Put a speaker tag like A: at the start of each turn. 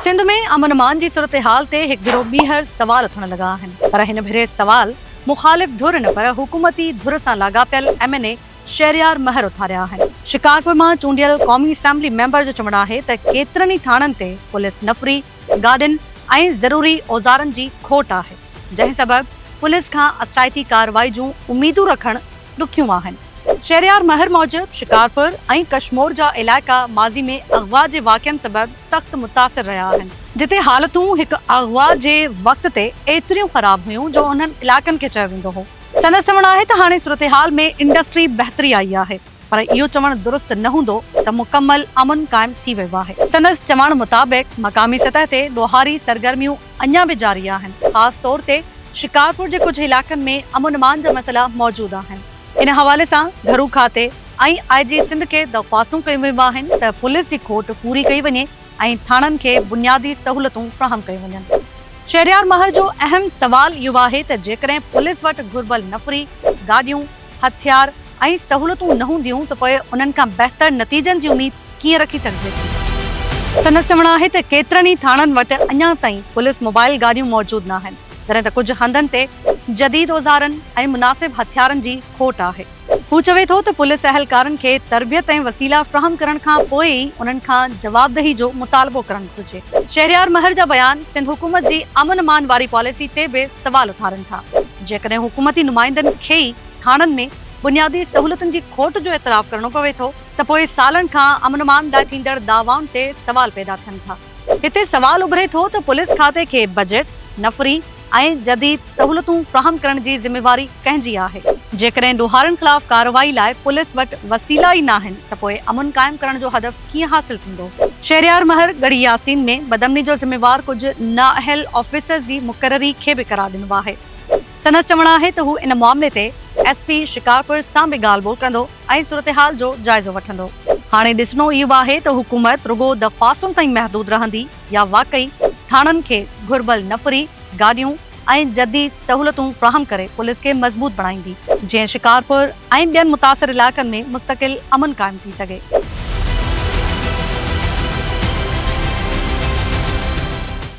A: سنڌ ۾ امن امان جي صورتحال تي هڪ ڀيرو ٻيهر سوال اٿڻ لڳا آهن پر هن ڀيري سوال مخالف ڌر نه پر حڪومتي ڌر سان لاڳاپيل M N A Shehryar Mahar اٿاريا آهن. شڪارپور مان چونڊيل قومي اسيمبلي ميمبر جو چوڻ آهي ته ڪيترن ئي ٿاڻن تي پوليس نفري، گاڏين ۽ ضروري اوزارن جي کوٽ آهي، جنهن سبب پوليس کان اثرائتي ڪارروائي جون اميدون رکڻ ڏکيون آهن. شهريار مهر موجب، شڪارپور ۽ ڪشمور جا علائقا ماضي ۾ اغوا جي واقعن سبب سخت متاثر رهيا آهن، جتي حالتون هڪ اغوا جي وقت تي ايتريون خراب هيون جو انهن علائقن کي چيو ويندو هو، سندس چوڻ آهي ته هاڻي صورتحال ۾ انڊسٽري بهتري آئي آهي. پر اهو چوڻ درست نه هوندو ته مڪمل امن قائم ٿي ويو آهي. سندس چوڻ مطابق مقامي سطح تي ڏوهاري سرگرميون اڃا به جاري آهن، خاص طور تي شڪارپور جي ڪجهه علائقن ۾ امن امان جا مسئلا موجود آهن، ان حوالي سان گهرو کاتي ۽ آء جي سنڌ کي درخواستون ڪيون ويون آهن ته پوليس جي کوٽ پوري ڪئي وڃي ۽ ٿاڻن کي بنيادي سهولتون فراهم ڪيون وڃن. شهريار مهر جو اهم سوال اهو آهي ته جيڪڏهن پوليس وٽ گهربل نفري گاڏيون، هٿيار ۽ سهولتون نه هونديون ته پوء انهن کان بهتر نتيجن جي اميد ڪيئن رکي سگهجي ٿي. سندس چوڻ آهي ته ڪيترن ئي ٿاڻن وٽ اڃا تائين پوليس موبائل گاڏيون موجود ناهن، جڏهن ته ڪجهه هنڌن تي جديد اوزارن ۽ مناسب هٿيارن جي کوٽ آهي. هو چوي ٿو ته پوليس اهلڪارن کي تربيت ۽ وسيلا فراهم ڪرڻ کان پوء ئي انهن کان جوابدهي جو مطالبو ڪرڻ گهرجي. شهريار مهر جا بيان سنڌ حڪومت جي امن امان واري پاليسي تي به سوال اٿارن ٿا. جيڪڏهن حڪومتي نمائندن کي ئي ٿاڻن ۾ بنيادي سهولتن جي کوٽ جو اعتراف ڪرڻو پوي ٿو ته پوء سالن کان امن امان لاء ٿيندڙ دعوائن تي سوال پيدا ٿين ٿا. هتي سوال اڀري ٿو ته پوليس کاتي کي بجيٽ، نفري ۽ جديد سهولتون فراهم ڪرڻ جي ذميواري ڪنهن جي آهي؟ جيڪڏهن ڏوهارين خلاف ڪارروائي لاء پوليس وٽ وسيلا ئي ناهن ته پوء امن قائم ڪرڻ جو هدف ڪيئن حاصل ٿيندو؟ شهريار مهر ڳڙهي ياسين ۾ بدامني جو ذميوار ڪجهه نااهل آفيسرز جي مقرري کي به قرار ڏنو آهي. سندس چوڻ آهي ته هو ان معاملي تي ايس پي شڪارپور سان به ڳالهه ٻولهه ڪندو ۽ صورتحال جو جائزو وٺندو. هاڻي ڏسڻو اهو آهي ته حڪومت رڳو درخواستن تائين محدود رهندي يا واقعي ٿاڻن کي گهربل نفري گاڏيون، ۽ جديد سهولتون فراهم ڪري پوليس کي مضبوط بڻائيندي، جيئن شڪارپور ۽ ٻين متاثر علائقن ۾ مستقل امن قائم ٿي سگهي.